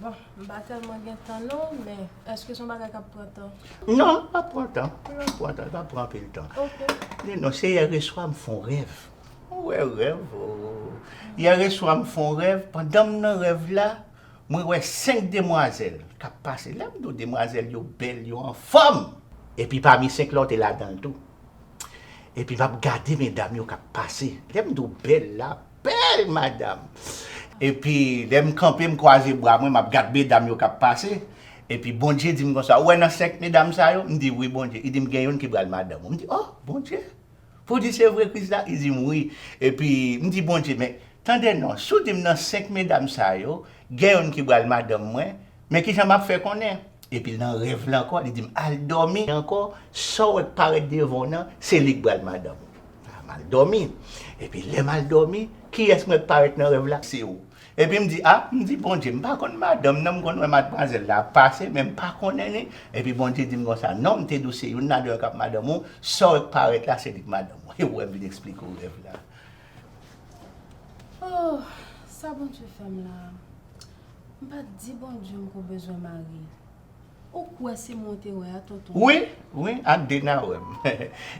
Bon, m pa tèlman gen tan non, men èske se yon bagay k ap pran tan? Non, l pap pran tan, l pap pran tan, l pap pran anpil tan. Ok. Men non, se yèreswa m fè yon rèv. Ou wè rèv oo. Yèreswa m fè yon rèv, pandan m nan rèv la, mwen wè senk demwazèl k ap pase. Lè m di w demwazèl yo bèl, yo anfòm! Epi pami senk la, w te ladan l tou. Epi m ap gade medam yo k ap pase. Lè m di w bèl la, Bel madam! Epi lè m kanpe m kwaze bra mwen map gad medam yo kap pase epi Bondye dim konsa ou wè nan 5 medam sa yo m di wi Bondye li dim gen youn ki pral madanm ou m di oh Bondye pou di se vre Krisla li dim wi epi m di Bondye men tande non si w dim nan 5 medam sa yo gen youn ki pral madanm mwen Men kijan m ap fè konnen. Epi nan rèv la ankò, li di m, Al dòmi ankò, sa w wè k parèt devan w nan, se li k pral madanm ou. A M al dòmi. Epi lè m al dòmi, kiyès m wè k parèt nan rèv la? Se ou. Epi m di, A! M di, Bondye, m pa konn madanm nan, m konn wè madmwazèl la ap pase, men m pa konnen li. Epi Bondye di m konsa, Non, m te di w se youn nan de yo k ap madanm ou, sa w wè k parèt la, se li k madanm ou. Epi w wè m vin esplike w rèv la. Ooh sa Bondye fèm la M pa t di Bondye m ko bezwen mari Ou kwè se mwen w te wè a tonton? Wi, wi ak de nan wè m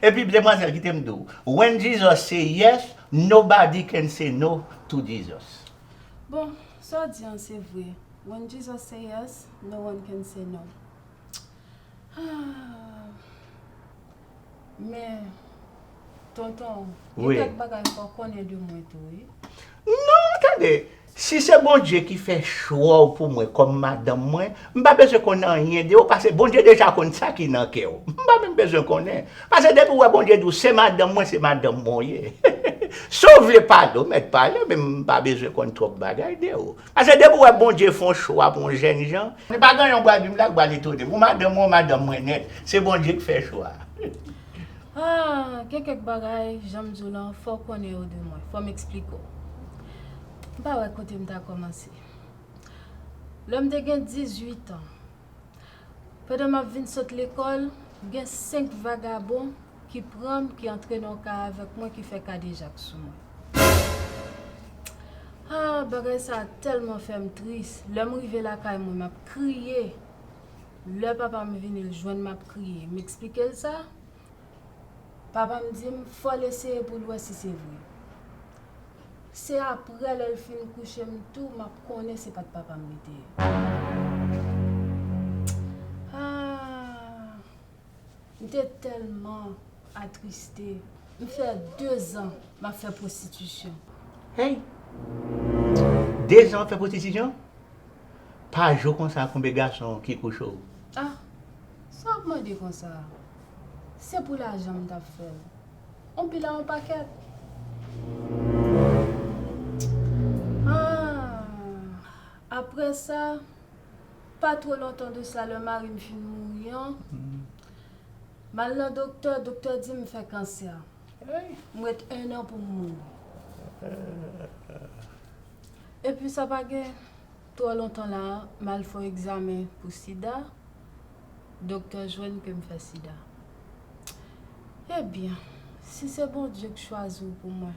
Epi demwazèl kite m di w When Jesus say yes, nobody can say no to Jesus Bon, sa w di an se vre When Jesus say yes, no one can say no Aah Men, tonton, gen kèk bagay ou pa konnen de mwen tou wi. Non, tande, si se Bondye ki fè chwa w pou mwen kòm madanm mwen, m pa bezwen konn anyen de ou pase Bondye deja konn sa ki nan kè w. M pa menm bezwen konnen. Pase depi ou wè Bondye di w se madanm mwen, se madanm mwen ou ye. Si w vle pale, ou mèt pale men m pa bezwen konn twòp bagay de ou. Pase depi w wè Bondye fè yon chwa pou yon jènjan, li pa gen yon bwa di m la k bal etone m. Ou madanm mwen, ou madanm mwen nèt. Se Bondye k fè chwa a. Ah, gen kèk bagay, jan m di w lan, fò w konnen yo de mwen. Fò m eksplike w. M pa wè kote m ta kòmanse. Lè m te gen dizuitan, pandan m ap vin sot lekòl, gen senk vagabon ki pran m, ki antre nan yon ka avèk mwen, ki fè kadejak sou mwen. Haa, bagay sa a tèlman fè m tris. Lè m rive lakay mwen, m ap kriye. Lè papa m vini l jwenn m ap kriye, m eksplike l sa. Papa m di m, fò l eseye pou l wè si se vre. Se aprè lè l fin kouche m tou, m ap konnen se pa t papa m li te ye. Haa. M te tèlman atriste. M fè dezan m ap fè pwostitisyon. Hey! Dezan w ap fè pwostitisyon? Pa jou konsa konbe gason ki kouche w? Ah! Sa w ap mande konsa? Se pou lajan m t ap fè l. On pil a on pakèt. Ah! Aprè sa, Pa two lontan de sa lè mari m fin mouri an, m al nan doktè, doktè di m m fè kansè. M ret ennan pou m mouri. Epi sa pa gen twò lontan la a, m al fè yon egzamen pou sida, doktè jwenn ke m fè sida. Ebyen, si se Bondye k chwazi w pou mwen.